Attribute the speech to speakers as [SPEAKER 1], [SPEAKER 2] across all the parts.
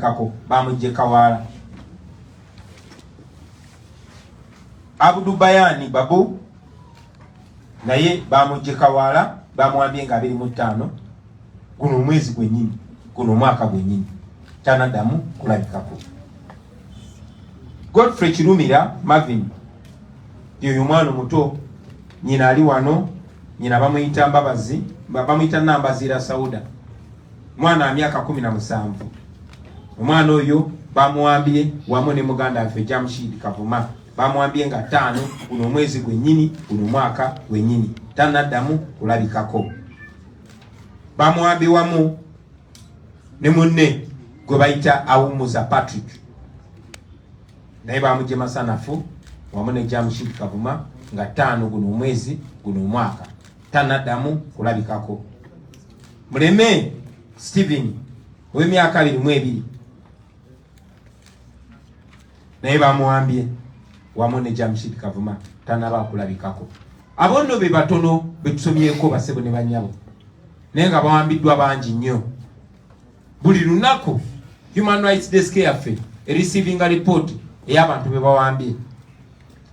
[SPEAKER 1] bamulabikako bamujje kawaala abudu bayani babu naye bamujje kawaala bamwambye nga abiri mu ttaano guno omwezi gwenyini guno omwaka gwenyini tanadamu kulabikako godfrey kirumira mavin yoyo mwana omuto nyina ali wano nyina bamuyita mbabazi bamuyita nambaziira sauda mwana wa myaka kumi na musanvu omwana oyo bamuwambye wamu ne muganda waffe Jamshid Kavuma bamwambye nga ttaano guno omwezi gwennyini guno mwaka gwennyini tanaddamu kulabikako bamwambye wamu ne munne gwe bayita awummuza Patrick naye bamugye masanafu wamu ne Jamshid Kavuma nga ttaano guno omwezi guno omwaka tanaddamu kulabikako Muleme Steven ow'emyaka abiri mu ebiri naye bamuwambye wamu ne Jamshid Kavuma tanaba akulabikako. Abo nno be batono be tusomyeko basebo ne banyabo, naye nga bawambiddwa bangi nnyo. Buli lunaku Human Rights Desk yaffe erisiivinga lipooti ey'abantu be bawambye.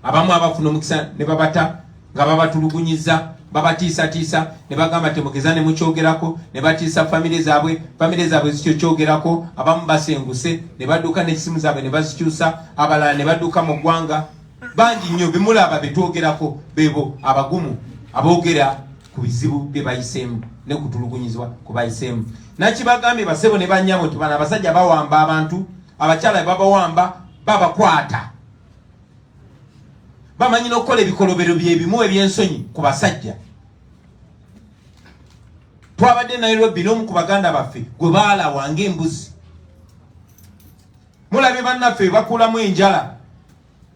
[SPEAKER 1] abamu abafuna omukisa ne babata nga babatulugunyiza babatiisatiisa ne bagamba temugeza ne mukyogerako ne batiisa famire zaabwe famire zaabwe zikyo kyogerako abamu basenguse ne badduka n'ekisimu zaabwe ne bazikyusa abalala ne badduka mu ggwanga bangi nnyo bimulaba betwogerako bebo abagumu aboogera ku bizibu bye bayiseemu ne kutulugunyizibwa ku bayiseemu nakibagambye basebo ne bannyabo nti bano abasajja bawamba abantu abakyala bebabawamba babakwata bamanyi n'okukola ebikolobero byebimu ebyensonyi ku basajja twabadde e nairobi n'omu ku baganda baffe gwe baalawa ngaembuzi mulabye bannaffe bebakulamu enjala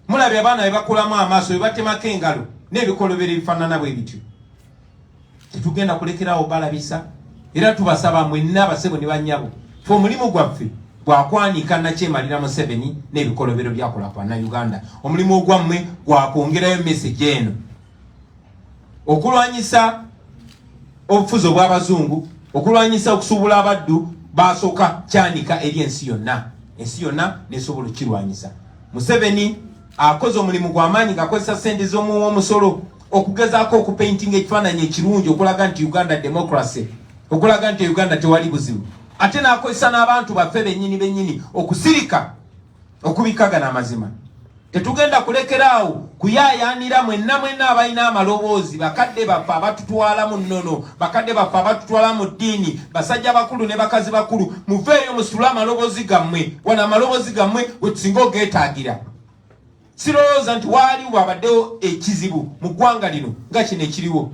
[SPEAKER 1] mulabye abaana bebakulamu amaaso bebatemako engalo n'ebikolobero ebifaanana bwe bityo tetugenda kulekerawo balabisa era tubasaba mwenna basebo ne banyabo fe omulimu gwaffe gwakwanika nakyemalira museveni n'ebikolobero byakola kwana uganda omulimu ogwammwe gwakwongerayo meseji eno okulwanyisa obufuzi obw'abazungu okulwanyisa okusuubula abaddu basooka kyanika eri ensi yonna ensi yonna nesobola okukirwanyisa museveni akoze omulimu gwamaanyi ngakozesa sente z'omuwa omusolo okugezaako okupaintinga ekifaananyi ekirungi okulaga nti uganda democracy okulaga nti uganda tewali buzibu ate nakozesa n'abantu baffe benyini benyini okusirika okubikagana amazima tetugenda kulekeraawo kuyayaanira mwenna mwenna abalina amaloboozi bakadde baffe abatutwala mu nnono bakadde baffe abatutwala mu ddiini basajja bakulu ne bakazi bakulu muveeyo musitule amaloboozi gammwe wano amaloboozi gammwe wetusinga ogeetaagira Sirowooza nti waali wabaddewo ekizibu mu ggwanga lino nga kino ekiriwo.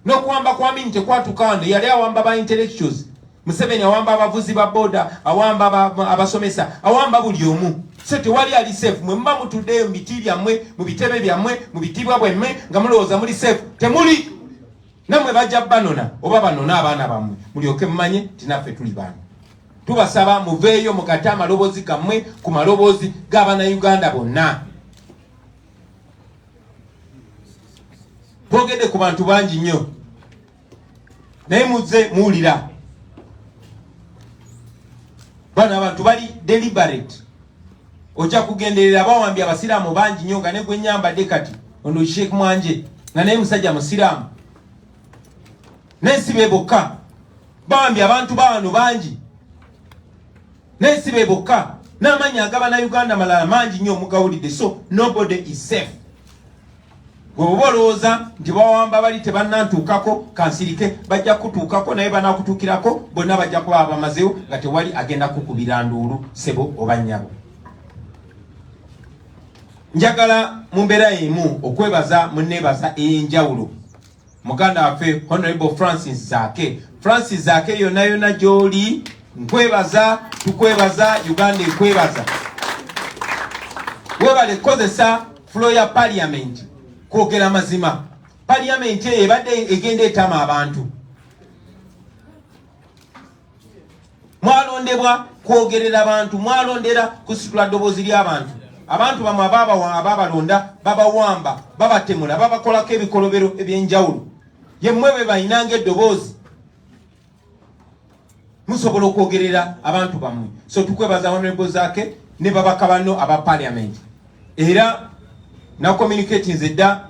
[SPEAKER 1] N'okuwamba kwa Amin tekwatuka wano, yali awamba ba intellectuals. Museveni awamba abavuzi ba boda, awamba abasomesa, awamba buli omu. So tewali ali safe. Mwe muba mutuddeyo mu biti byammwe, mu bitebe byammwe, mu bitiibwa bwammwe nga mulowooza muli safe. Temuli! namwe bajja banona oba banona abaana bamwe mulyoke mumanye nti naffe tuli baana tubasaba muveeyo mukate amaloboozi gammwe ku maloboozi g'abana uganda bonna twogedde ku bantu bangi nnyo naye muzze muwulira bano abantu bali deliberate ojja kugenderera abawambi abasiraamu bangi nnyo nga negwe nyambadde kati ono sheek mwanje nga naye musajja musiraamu naye si be bokka bawambi abantu bawano bangi naye si be bokka n'amannya agaba na uganda malala mangi nnyo omugawulidde so nobody is safe Webuba olowooza nti bawamba bali tebannantuukako kansirike bajja kutuukako naye banakutuukirako bonna bajja kuba abamazewo nga tewali agenda kukubira nduulu sebo oba nnyabo njagala mu mbeera emu okwebaza mu nneebaza ey'enjawulo muganda waffe honorable francis zake francis zake yona yona gyoli nkwebaza tukwebaza uganda ekwebaza webale kukozesa fulo ya paliamenti kwogera mazima paliamenti eyo ebadde egenda etama abantu mwalondebwa kwogerera bantu mwalondera kusitula ddoboozi ly'abantu abantu bamwe abaabalonda babawamba babatemula babakolako ebikolobero eby'enjawulo yemmwe be balinanga eddoboozi musobola okwogerera abantu bammwe so tukwebaza honorable zake ne babaka banno aba parliament era na communicatinze dda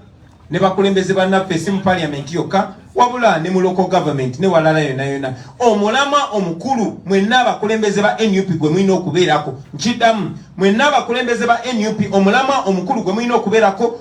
[SPEAKER 1] ne bakulembeze bannaffe si mu parliament yokka wabula ne mu local government ne walala yona yona omulamwa omukulu mwenna abakulembeze ba nup gwe mulina okubeerako nkiddamu mwenna abakulembeze ba nup omulamwa omukulu gwe mulina okubeerako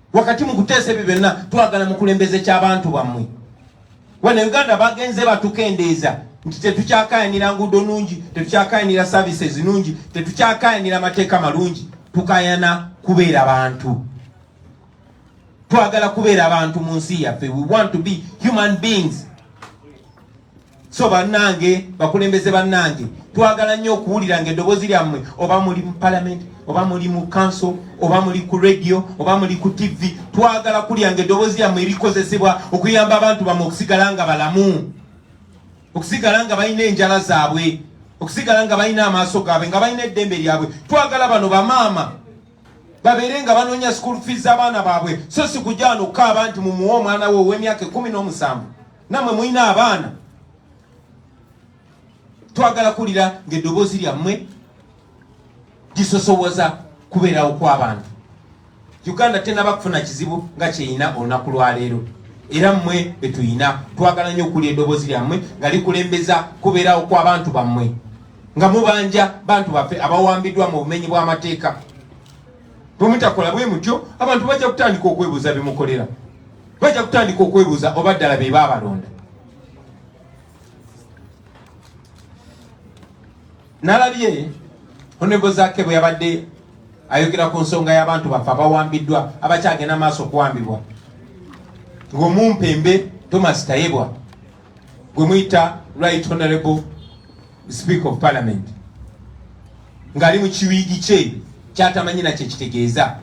[SPEAKER 2] wakati mu kuteesa ebyo byonna twagala mukulembeze ky'abantu bammwe wano uganda bagenze batukendeeza nti tetukyakayanira nguudo nungi tetukyakayanira services nungi tetukyakayanira amateeka malungi tukayana kubeera bantu twagala kubeera bantu mu nsi yaffe we want to be human beings so bannange bakulembeze bannange twagala nnyo okuwulira nga eddoboozi lyammwe oba muli mu palamenti oba muli mu kanso oba muli ku radio oba muli ku tivi twagala kulya nga eddoboozi lyammwe erikozesebwa okuyamba abantu bammwe okusigala nga balamu okusigala nga balina enjala zaabwe okusigala nga balina amaaso gaabwe nga balina eddembe lyabwe twagala bano bamaama babeere nga banoonya school fees z'abaana baabwe so si kujja wano okukaaba nti mumuwe omwana we ow'emyaka ekumi n'omusanvu namwe mulina abaana twagala kuwulira ng'eddoboozi lyammwe gisosowoza kubeerawo kw'abantu uganda tenaba kufuna kizibu nga kyeyina olunaku lwaleero era mmwe betuyina twagala nnyo okuwulira eddoboozi lyammwe nga likulembeza kubeerawo kw'abantu bammwe nga mubanja bantu baffe abawambiddwa mu bumenyi bw'amateeka bwemutakola bwe mutyo abantu bajja kutandika okwebuuza bimukolera bajja kutandika okwebuuza oba ddala be baabalonda nalabye honorable zake bwe yabadde ayogera ku nsonga y'abantu baffe abawambiddwa abakyagenda maaso okuwambibwa ng'omumpembe thomas tayebwa gwe muyita right honorable speaker of parliament ng'ali mu kiwiigi kye kyatamanyi nakyo ekitegeeza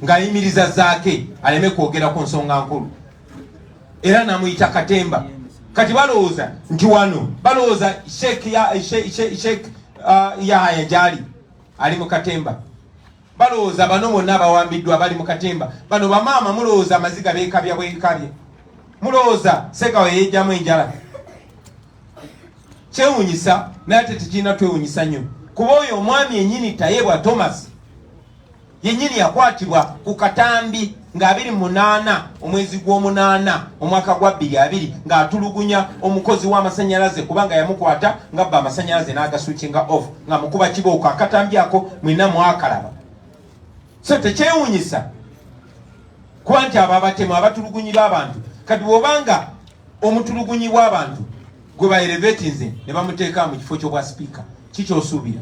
[SPEAKER 2] ng'ayimiriza zaake aleme kwogera ku nsonga nkulu era namuyita katemba kati balowooza nti wano balowooza sheek uh, yahaya gyali ali mu katemba Balowooza bano bonna abawambiddwa bali mu katemba. Bano bamaama mulowooza amaziga beekabya bwekabye? Mulowooza Ssegawa yeejjamu enjala? Kyewunyisa naye ate tekirina twewunyisa nnyo kuba oyo omwami yennyini Tayebwa Thomas yennyini yakwatibwa ku katambi. nga abiri mu munaana omwezi gw'omunaana omwaka gwa bbiri abiri ng'atulugunya omukozi w'amasannyalaze kubanga yamukwata nga bba amasannyalaze n'agasuukinga off nga mukuba kibooko akatambyako mwina mwakalaba so tekyewunyisa kuba nti abo abatemu abatulugunyirwa abantu kati bwobanga omutulugunyi bw'abantu gwe baerevetinze ne bamuteeka mu kifo ky'obwa sipiika kikyosuubira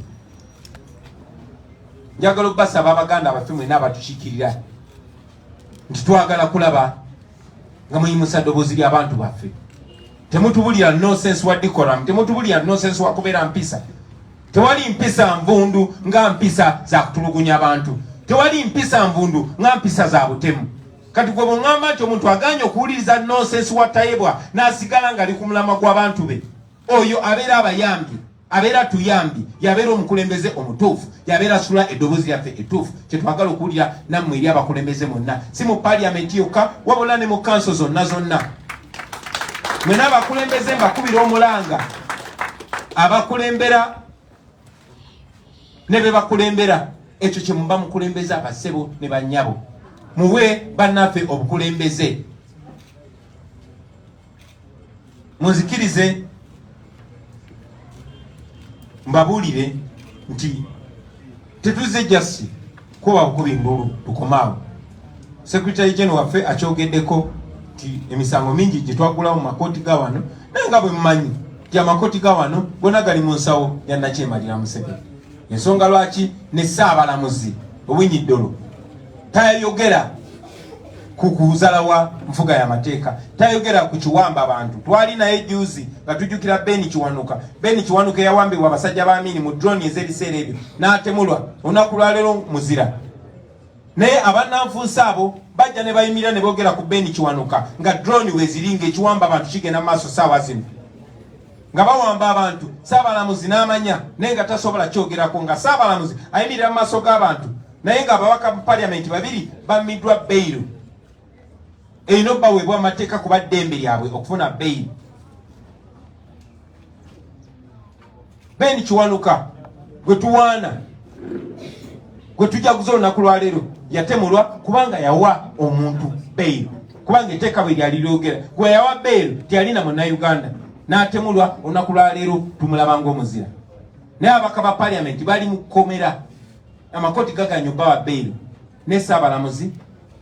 [SPEAKER 2] njagala okubasaba abaganda abaffe mwena abatukikirira nti twagala kulaba nga muyimusa ddoboozi ly'abantu baffe temutubulira nosense wa decoram temutubulira nosense wa kubeera mpisa tewali mpisa nvundu nga mpisa za kutulugunya abantu tewali mpisa nvundu nga mpisa za butemu kati gwe bweŋŋamba nti omuntu aganye okuwuliriza nosense wa tayebwa n'asigala ng'ali ku mulamwa gw'abantu be oyo abeera abayambye abeera tuyambye yabeera omukulembeze omutuufu yabeera sula eddoboozi lyaffe ettuufu kyetwagala okuwulira nammwe eri abakulembeze mwonna si mu paliyamenti yokka wabula ne mu kanso zonna zonna mwena abakulembeze mbakubira omulanga abakulembera ne be bakulembera ekyo kye muba mukulembeza abasebo ne bannyabo muwe bannaffe obukulembeze Munzikirize mbabuulire nti tetuzze jasi kuba bukubi ndulu tukomaawo. Secretary General waffe akyogeddeko nti emisango mingi gye twagulawo mu makooti ga wano naye nga bwe mumanyi nti amakooti ga wano gona gali mu nsawo ya Nakyemalira Museveni. Ensonga lwaki ne Ssaabalamuzi Owinyi Ddolo tayogera ku kuzala wa nfuga ya mateeka tayogera ku kiwamba bantu twali naye juzi nga tujjukira beni kiwanuka beni kiwanuka eyawambibwa abasajja ba amini mu drone ez'ebiseera ebyo n'atemulwa olunaku lwaleero muzira naye
[SPEAKER 1] abannanfuusi abo bajja ne bayimirira ne boogera ku beni kiwanuka nga drone weziringa ekiwamba abantu kigenda mu maaso saawa zino nga bawamba abantu saabalamuzi n'amanya naye nga tasobola kyogerako nga saabalamuzi ayimirira mu maaso g'abantu naye nga ababaka bu paliamenti babiri bammiddwa beyiro erina obaweebwa amateeka kuba ddembe lyabwe okufuna beyiro ben kiwanuka gwe tuwaana gwe tujaguza olunaku lwaleero yatemulwa kubanga yawa omuntu bail kubanga eteeka bwe lyali lyogera gwe yawa bail teyalina munauganda n'atemulwa olunaku lwaleero tumulaba ngaomuzira naye abaka ba paliamenti bali mu kkomera amakooti gaganya obbawa bail ne Ssaabalamuzi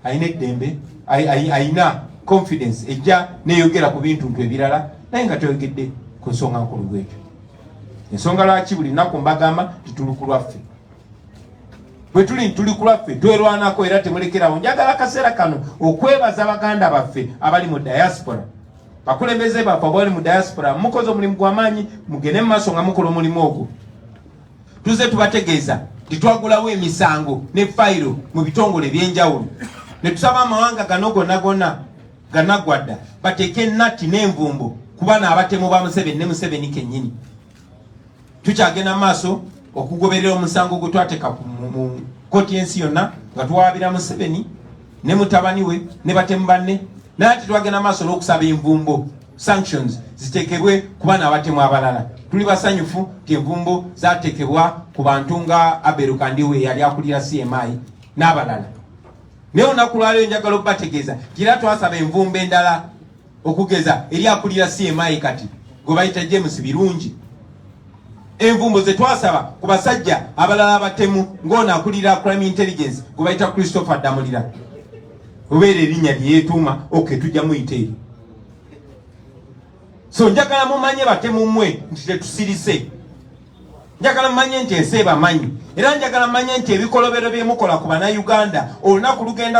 [SPEAKER 1] alina eddembe, alina confidence ejja neyogera ku bintu ntu ebirala naye nga toyogedde ku nsonga nkulu bwekyo. Ensonga lwaki buli lunaku mbagamba tituli ku lwaffe bwe tuli tuli ku lwaffe twerwanako era temulekerawo. Njagala akaseera kano okwebaza baganda baffe abali mu diaspora bakulembeze baffe abali mu diaspora mukoze omulimu gwamaanyi mugende mu maaso nga mukola omulimu ogwo tuze tubategeeza nti twagulawo emisango ne fayiro mu bitongole ebyenjawulo ne tusaba amawanga gano gonna gonna ganagwadda bateeke natti n'envumbo kubana abatemu ba museveni ne museveni kennyini tukyagenda maaso okugoberera omusango gwe twateeka mu kkooti y'ensi yonna nga tuwaabira museveni ne mutabani we ne batemu banne naye ati twagenda maaso n'okusaba envumbo sanctions zitekebwe ku bana abatemu abalala tuli basanyufu nti envumbo zatekebwa ku bantu nga Abel Kandiwe eyali akulira CMI n'abalala naye olunaku lwaleero njagala okubategeeza nti era twasaba envumbo endala okugeza eri akulira CMI kati gwe bayita James Birungi envumbo ze twasaba ku basajja abalala abatemu ng'ono akulira crime intelligence gwe bayita Christopher Damulira obeera erinnya lye yeetuuma oke tujja muyita eri so njagala mumanye batemumwe nti tetusirise njagala mumanye nti ensi ebamanyi era njagala mumanye nti ebikolobero byemukola ku banauganda olunaku lugenda